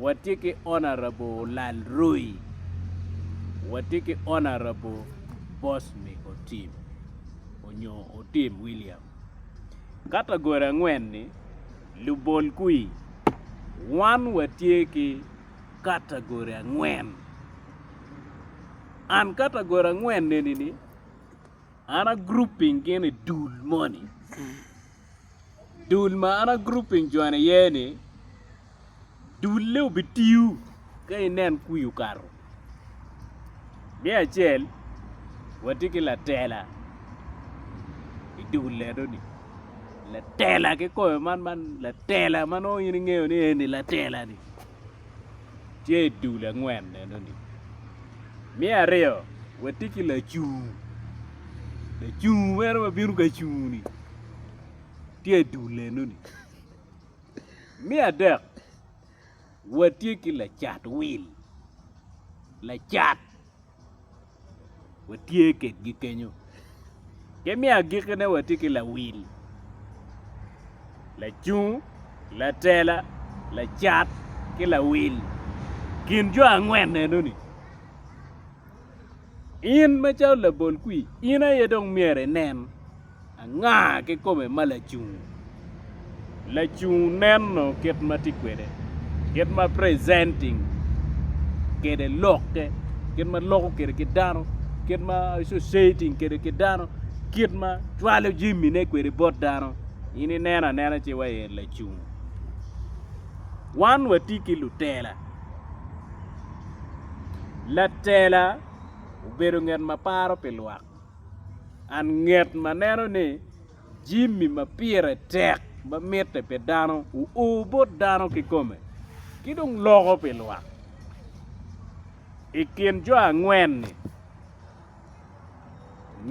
Watye ki Honourable Olal Roi, watye ki Honourable Bosmy Otim onyo Otim William. Category angwen ni lubol kwi, wan watye ki category angwen. And category angwen eni ni an a grouping gin i dul moni. dul ma an agrouping jone iye ni dulle obitiyu ka inen kwi okato me acel watye ki latela idul enoni latela kikoyo man man latela ma nongo in ingeyo ni eni latela ni. tye i dul angwen enoni. Me aryo, watye ki lacung, lacung meno ma bino ka cungo-ni tye i dul enoni. Me adek, watye ki lacat wil, lacat. watye kwedgi kenyo ki me agikine watye ki lawil lacung latela lacat ki lawil kin jo angwen enoni in macalo labol kwir in aye dong myero inen. Anga kikome ma lacung? Lacung neno kit ma tye kwede, kit ma presenting kwede lokke, kit ma loko kwede ki dano, kit ma associating kwede ki dano, kit ma cwalo jamine kwede bot dano. In ineno anena ci iwaco en lacung. Wan watye ki lutela, latela obedo ngat ma paro pi lwak. Anget ma neno ni jami ma pire tek ma mitte pi dano oo bot dano kikome ki dong loko pi lwak. I kin jo angwen-ni,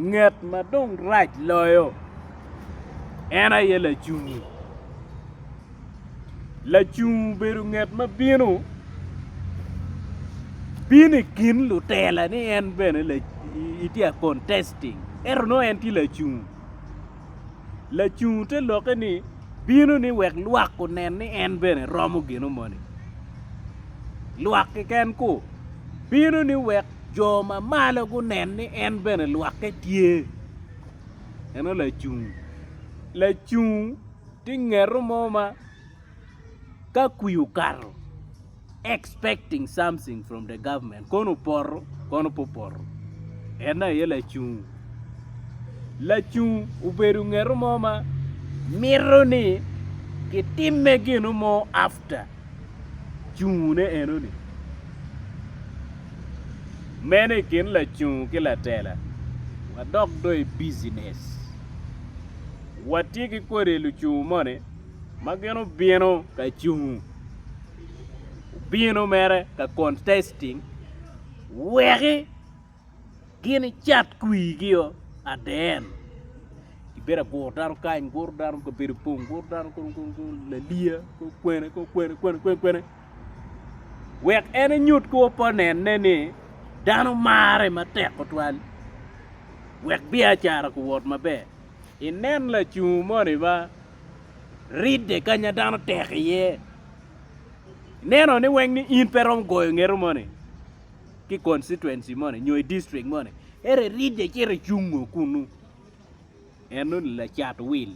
nget ma dong rac loyo en aye lacungi. Lacung obedo ngat ma bino bino i kin lutela ni en bene itye ka contesting ento nongo en tye lacung, lacung te lokke ni bino ni wek lwak onen ni en bene romo gino moni lwak keken ku bino ni wek jo ma malo gunen ni en bene lwakke tye meno lacung, lacung Tye ngeto mo ma ka kwi okato expecting something from the government kono opoto kono pe opoto en aye lacung lacung obedo ngeto mo ma mito ni kitimme gino mo after cungune enoni meno i kin lacung ki latela wadok do i business. Watye ki kodi lucungu moni ma gin obino ka cungu obino mere ka contesting weki gin icat kwirgi o at the end kibedo agur dano kany guro dano kabedo pong guro dano kong kong kong laliya kong kwene kong kwene kwene kwene kwene wek en enyut ki opponent-ne ni dano marre matek tutwal wek biacara guwot maber. Inen lacungu moni ma ridde kanya dano tek iye. Ineno ni weng ni in pe romo goyo ngeto moni ki constituency moni nyo i district moni. Ere iridde cito icungo kunu. Enoni lacat wil.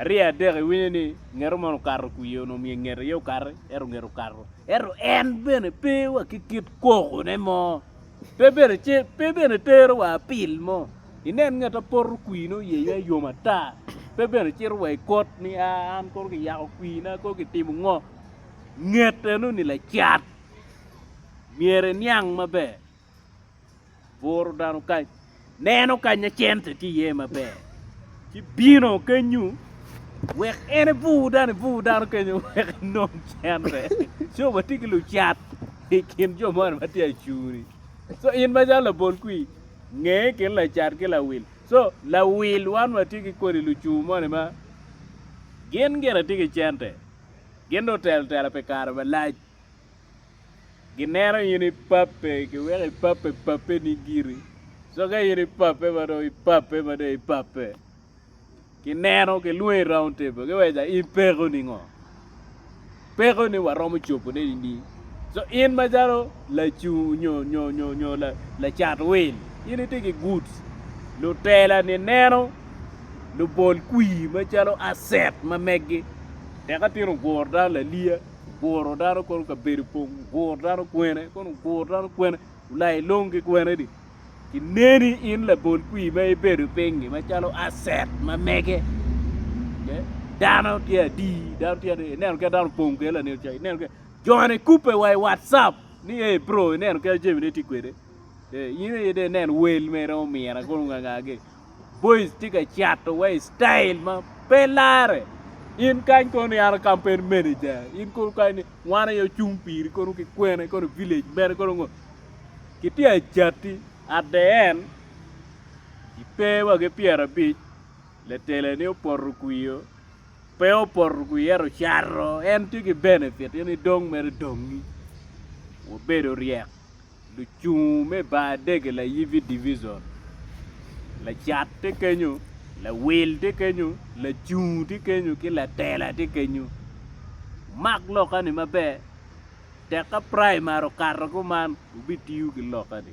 Arye adek iwinyo ni ngeto moni okato kwi onongo omyero nget aye okati ento nget okato ento en bene pe wa ki kit koko ne mo pe bene ce pe bene tero wa apil mo inen nget ma poto kwi ne oye iwya yom ata pe bene cito wa ikot ni aa an kono ki yako kwi na kono ki timo ngo nget enoni lacat myero iniang maber buro dano kany neno kanya cente tye iye maber ci bino kenyo wek en ebur dano ebur dano kenyo wek enong cente ci watye ki lucat i kin jo moni ma tye acuri so in macalo labol kwi nge i kin lacat ki lawil so lawil wan watye ki kodi lucur moni ma gin gire tye ki cente gin dong otelo tela pi kare malac. Gineno in ipape ki weko ipape papeni giri. Co ka in ipape ma dong ipape ma dong ipape, kineno kilwongi i round table kiweja in peko ningo? Peko ni waromo cobo ne ni so in macalo lacung nyo nyo nyo nyo lacat wil in itye ki goods lutela ni neno lubol kwir macalo asset ma meggi teka tino oguro dano laliya oguro dano kono kabedo pong oguro dano kwene kono oguro dano kwene olai long ki kwenedi kineni in labol kwir ma ibedo pinyi macalo aset ma mege dano tye adi dano tye adi ineno kit dano opong kwede lanen cayi ineno kit jone kubbe wa i watcap ni ei bro ineno kit jamine tye kwede in aye dong inen wel mere omira kono ongangagi Boys tye ka cato wa i style ma pe lare. In kany kono ni an a campaign manager. In kono kany ni wan aye ocung piri kono ki kwene kono village mene kono ngo. Kitye a cati at the end ipe wa ki pyera abic letele ni opoto kwio pe opoto kwi ero cato en tye ki benefit in idong mere dongi. Wabedo ryek. Lucung me bar dege layibbi divison, lacat tye kenyo, lawil tye kenyo, lacung tye kenyo ki latela tye kenyo. Wumak lokani maber tek ka praimari okato kuman wubitiyo ki lokani.